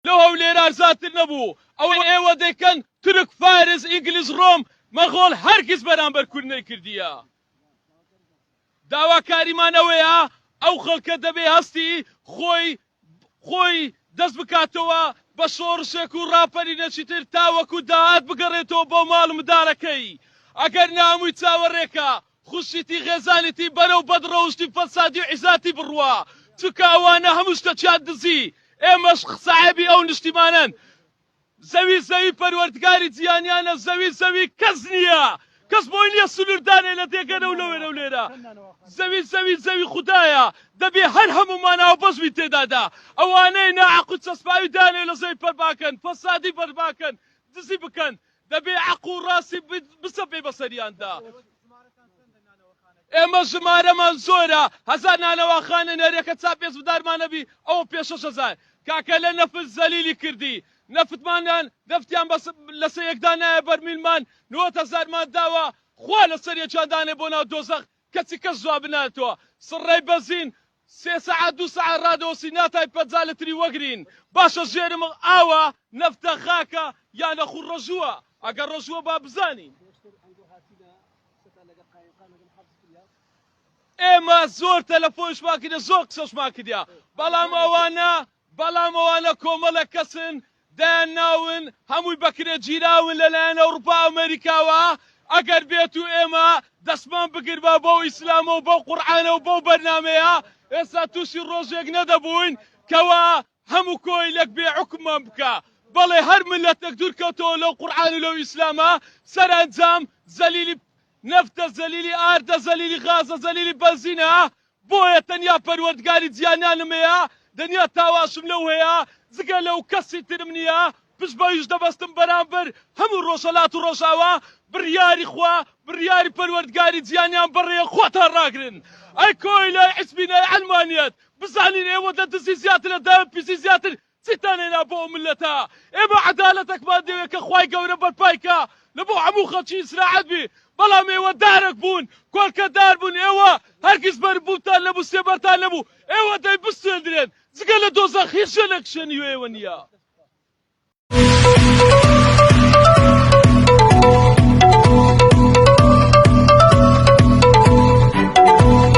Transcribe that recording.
لە هەولێر ئازاتر نەبوو ئەوەی ئێوە دەیکەن تورک فارس ئینگلیز ڕۆم مەغۆل هەرگیز بەرامبەر کورد نەیکردیە داواکاریمان ئەوەیە ئەو خەڵکە دەبێ هەستی خۆی خۆی دەست بکاتەوە بە شۆڕشێک و ڕاپەرینە چیتر تاوەکو داهات بگەڕێتەوە بۆ ماڵ منداڵەکەی ئەگەر نا هەمووی چاوەڕێکە خوشیتی خێزانیتی بەرەو بەد ڕەوشتی فەسادی و عیزاتی بڕوا چونکە ئەوانە هەموو شتەکیان دزی ئێمەش خساحێبی ئەو نیشتیمانەن زەوی زەوی پەروەردگاری جیانیانە زەوی زەوی کەس نیە کەس بۆی نیە سنور دانێ لە دێگەنە و لەوێنە و لێرە زەوی زەوی زەوی خودایە دەبێ هەر هەموومان هاوبەش بین تێدا دا ئەوانەی ناحەق و چەسپاوی دانێ لە زەوی پەرباکەن فەسادی بەرباکەن دزی بکەن دەبێ عەق و ڕاستی بسەپێی بەسەریاندا. ئێمە ژمارەمان زۆرە هەزار نانەواخانە نەرێ کە چاپێچبدارمان نەبی ئەوە پێشەش ئەزان کاکە لە نەفت زەلیلی کردی نەفتمانان نەفتیان بەس لەسەر یەکدا نایە بەرمیلمان نۆت هەزارمان داوە خوا لەسەر یەکیان دانێ بۆ ناو دۆزەخ کەچی کەس جوابی نایەتوە سڕەی بەزین سێ سەعات دوو سەعات ڕادەوەسی ناتای پەنجا لتری وەگرین باشە ژێر مڵ ئاوە نەفتە خاکە یا نەخوو ڕژووە ئەگەر ڕژووە با بزانین ئێمە زۆر تەلەفۆنشمان کردە زۆر قسەشمان کردە بەڵام ئەوانە بەڵام ئەوانە کۆمەڵە کەسن دەیان ناون هەمووی بەکرێ گیراون لەلایەن ئەوڕوپا ئەمەریکاوە ئەگەر بێت و ئێمە دەستمان بگربا بەو ئیسلامە و بەو قورعانە و بەو بەرنامەیە ئێستا تووشی ڕۆژێک نەدەبووین کەوا هەموو کۆیلەک بێ حوکممان بکا بەڵێ هەر ملەتەک دوورکەوتەوە لەو قورعان و لەو ئیسلامە سەرئەنجام زەلیلی نەفتە زەلیلی ئاردە زەلیلی غازە زەلیلی بەنزینە بۆیە تەنیا پەروەردگاری جیانانم هەیە، دەنیا تاواشم لەو هەیە، جگە لەو کەسی ترم نییە، پشت بەویش دەبەستم بەرامبەر هەموو ڕۆژهەلات و ڕۆژاوا، بڕیاری خوا، بڕیاری پەروەردگاری جیانان بەڕێیە خۆتان ڕاگرن. ئەی کۆیلەی عیسبینەی عەلمانیەت، بزانین ئێوە لە دزی زیاتر لە داوێن پیسی زیاتر چیتان هێنا بۆ ئەو ملەتە ئێمە عەدالەتەکمان دەوێ کە خوای گەورە بەرپای کا لە بۆ هەموو خەڵکی ئیسراعەت بی بەڵام ئێوە دارەک بوون کۆلکە دار بوون ئێوە هەرگیز بەرپ بوونتان نەبوو سێبەرتان نەبوو ئێوە دەی بسوێندرێن جگە لە دۆزەخ هیچ شوێنێک شوێنی وێ ئێوە نییە.